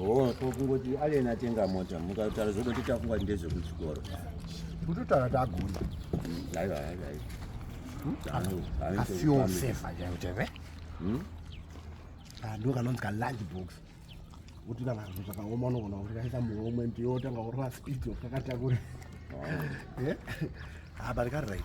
Oh, ko kungoti alien atenga mota mukataura zvekuti tafunga kuti ndezvekuchikoro kutotaura tagona aiwa aiwa afeel safe ajauteve ndo kanonzi kalunch box utina vanhu zvakaoma unogona kutikaisa muhomwe ndiyo otanga kurova speed wakakatakura eh? ah, but kari right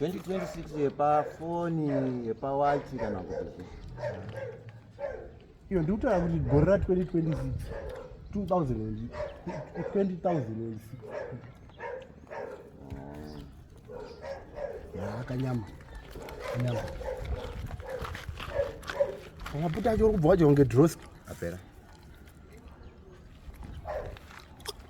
2026 yepafoni yepawachi kana kuti iyo ndikutaura kuti gore ra 2026 2006 akanyama nyama akaputa acho uri kubva wacho kunge droski apera